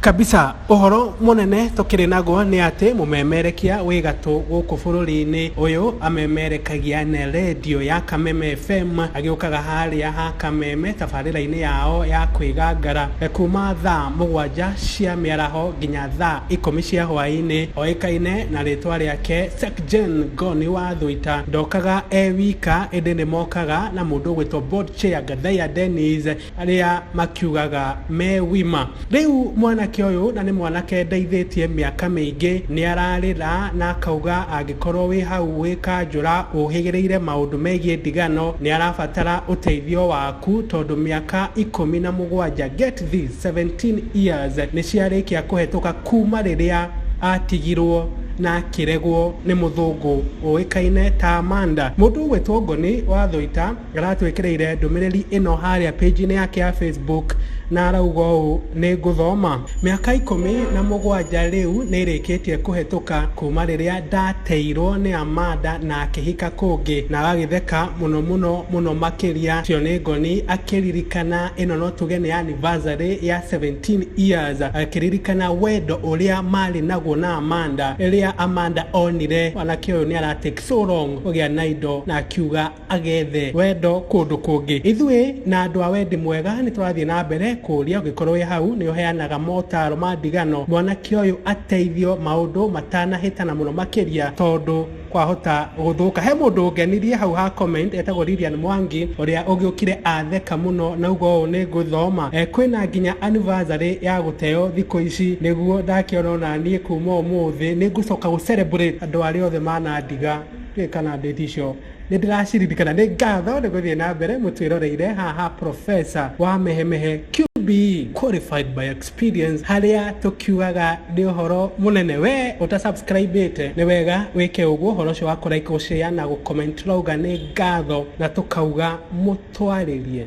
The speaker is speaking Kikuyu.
Kabisa. Ũhoro mũnene tũkĩrĩ naguo nĩ atĩ mũmemerekia wĩ gatũ gũkũ bũrũri-inĩ ũyũ amemerekagia na rendio ya Kameme FM, agĩũkaga harĩa ha Kameme tabarĩra-inĩ yao ya kwĩgangara kuma thaa mũgwanja cia mĩaraho nginya thaa ikũmi cia hwaĩ-inĩ. Oĩkaine na rĩtwa rĩake Sek Gen Goni wa Thũita. Ndokaga e wika ĩndĩ nĩ mokaga na mũndũ ũgwĩtwo Board Chair Gathaiya Dennis Arĩa makiugaga me wima. Rĩu mwanake ũyũ, na nĩ mwanake ndeithĩtie mĩaka mĩingĩ, nĩ ararĩra na akauga angĩkorwo wĩ hau wĩ kanjũra ũhĩgĩrĩire maũndũ megiĩ ndigano, nĩ arabatara ũteithio waku tondũ mĩaka ikũmi na mũgwanja, get this, 17 years, nĩ ciarĩkia kũhetũka kuuma rĩrĩa atigirwo na akĩregwo nĩ mũthũngũ ũĩkaine ta Amanda. Mũndũ ũgwĩtwo Ngoni wa Thũita. aratwĩkĩrĩire ndũmĩrĩri ĩno harĩa page-inĩ yake ya facebook na arauga ũũ nĩ ngũthoma mĩaka ikũmi na mũgwanja rĩu nĩ ĩrĩkĩtie kũhetũka kuma rĩrĩa ndateirwo nĩ amanda na akĩhika kũngĩ na agagĩtheka mũno mũno mũno makĩria cio nĩ ngoni akĩririkana ĩno no tuge nĩ anniversary ya 17 years akĩririkana wendo ũrĩa marĩ naguo na amanda rĩrĩa amanda onire mwanake ũyũ nĩ ara take so long kũgĩa na indo na akiuga agethe wendo kũndũ kũngĩ. Ithuĩ na andũ a wendi mwega nĩ tũrathiĩ na mbere kũũria ũngĩkorwo wĩ hau nĩ ũheanaga motaaro ma ndigano mwanake ũyũ ateithio maũndũ matanahĩtana mũno makĩria tondũ kwahota gũthũka. He mũndũ ũngenirie hau ha comment etagwo Lilian Mwangi ũrĩa ũgĩũkire atheka mũno na auga ũũ nĩ ngũthoma eh, kwĩna nginya anniversary ya gũteo thikũ ici nĩguo ndakĩona onaniĩ kuma ũmũthĩ nĩ ngũcoka gũ celebrate andũ arĩa othe manandiga. Ndiũĩ kana date icio Nĩndĩraciririkana. Nĩ ngatho nĩ gũthiĩ na mbere mũtwĩroreire haha Professor wa Mehemehe QBE qualified by experience harĩa tũkiugaga nĩ ũhoro mũnene. We ũta subscribĩte nĩ wega wĩke ũguo ũhoro ũcio wa kũ like, gũ share na gũ comment tũrauga nĩ ngatho na tũkauga mũtwarĩrie.